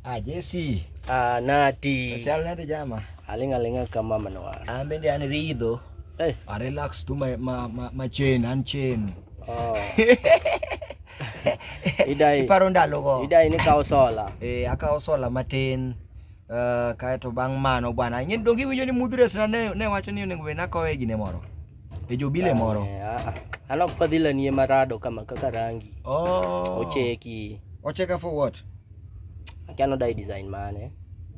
Ah, Jesse. Ah, Nati. Chal nade jama? Aling alinga kama manwar. An bende an ridho. Hey. I relax to my ma, ma, ma chain and chain. Oh. Idai. Iparo ndalogo. Idai ni kawo sola. Eh, akawo sola matin. Uh, kaeto bang' mano bwana ing'e donge iwinjo ni mudhres na ne, ne wacho ni onego bed nakowe gine moro e jobile moro eh, ah, ah. an ok fadhila nie marado kama kaka rangi oh. ocheki ocheka for what Akia no dai design mane.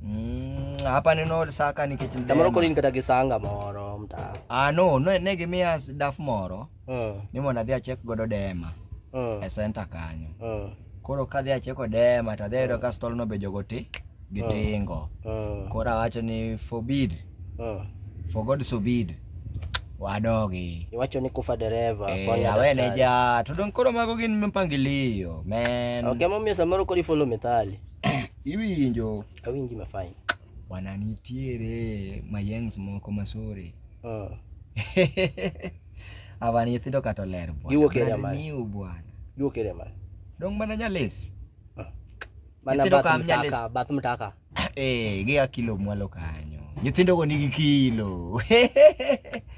Mm, hapa neno saka ni kitu nzema. Samoro koni nikata kisanga moro mta. Ah no, no ne gimia daf moro. Mm. Ni mona dhia check godo dema. Mm. E center kanyo. Mm. Koro ka dhia check dema ta dhia mm. ka stol no bejo goti gitingo. Mm. mm. Koro awacho ni forbid. Mm. For God forbid. wadogi. Iwacho ni kufa dereva eh, konya awene ja to don koro mago gin mpangilio men. Okay, momiyo samoro kodi follow methali. Iwinjo. Awinji ma fine. Wana nitiere mayengs moko masore. Uh. Ava nyithindo kata oler bwana. Giwuok area mane? Niu bwana. Giwuok area mane? Dong mana nyalesi. Uh. Mana bath mtaka, bath mtaka. Eh, gia kilo mwalo kanyo. Nyithindo go nigi kilo.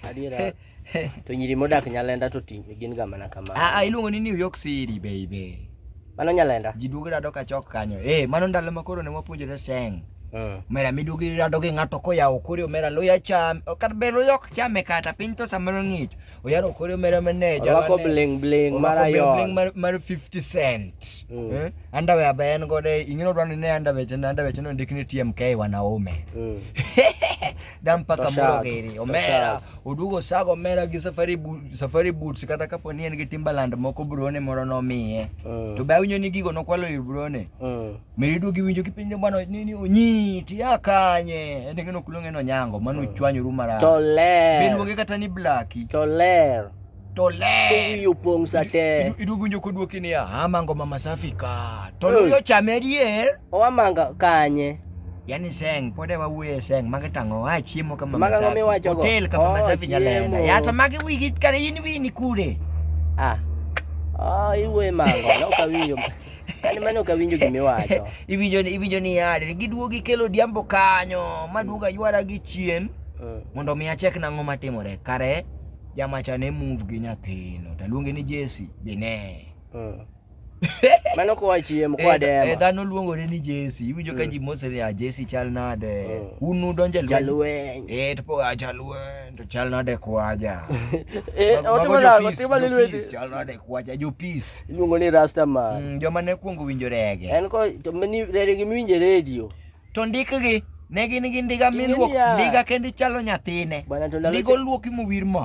Adiera. To nyiri modak Nyalenda to ting gin ga mana kamano. Ah, ah iluongo ni New York City baby. Mano Nyalenda. Ji duogo rado ka chok kanyo. Eh, mano ndalo ma koro ne wapuonjore seng. Uh. Mera miduogo rado gi ng'ato koyawo kore omera loya cham. Kata be loya ok chame kata piny to samoro ng'ich. Oyaro kore omera mane. Orwako bling bling mar ayon. Orwako bling bling mar 50 cent. mm. eh? andawe ambaye en godo ingine odwa ni ne andawe chende andawe chende ndik ni TMK wanaume mm. da mpaka moro gini omera odugo sago omera gi safari boot, safari boots kata kapo ni en gi Timberland moko brone moro nomiye mm. to be awinjo ni gigo nokwalo ir brone mm. meri duogi winjo kipenjo bwana nini onyi tia kanye en ngeno kulonge no nyango mano mm. chwanyo rumara to ler benuoge kata ni blacky to ler to ler. To wiyo pong' sate. Iduogo winjo kodwoki niya, amango mama safi ka. To luyo chame dier. Owamanga kanye. Yani seng, pode wa wuye seng, magi tango, ha chiemo kama mama safi. Magi Hotel kama mama oh, safi nyalenda. Ya to magi wigi kare in wini kure. Ah. Ah, iwe mango, no kawinjo. Ani mano kawinjo gimi wacho. Iwinjo ni iwinjo ni yade, giduogi kelo diambo kanyo, maduoga ywara gi chien. Eh. Mondo mi achek nang'o matimore. Kare jamacha ne move gi nyathino taluonge ni Jesse bine mm. mano kowa chiemo kowa eh, dema eh, dhano luongore ni Jesse iwinjo ka mm. ji mose ni a ah, Jesse chal nade mm. un udonje lweny eh to poa ah, jalweny to chal nade kwaja eh otimo la otimo le lweny chal nade kwaja jo peace iluongo ni rasta man mm, joma ne kuongo winjo rege en ko to mani rege miwinje radio To ndikgi ne gin gi ndiga miluok ndiga kendo ichalo nyathine. Ndiga oluoki mowir mo.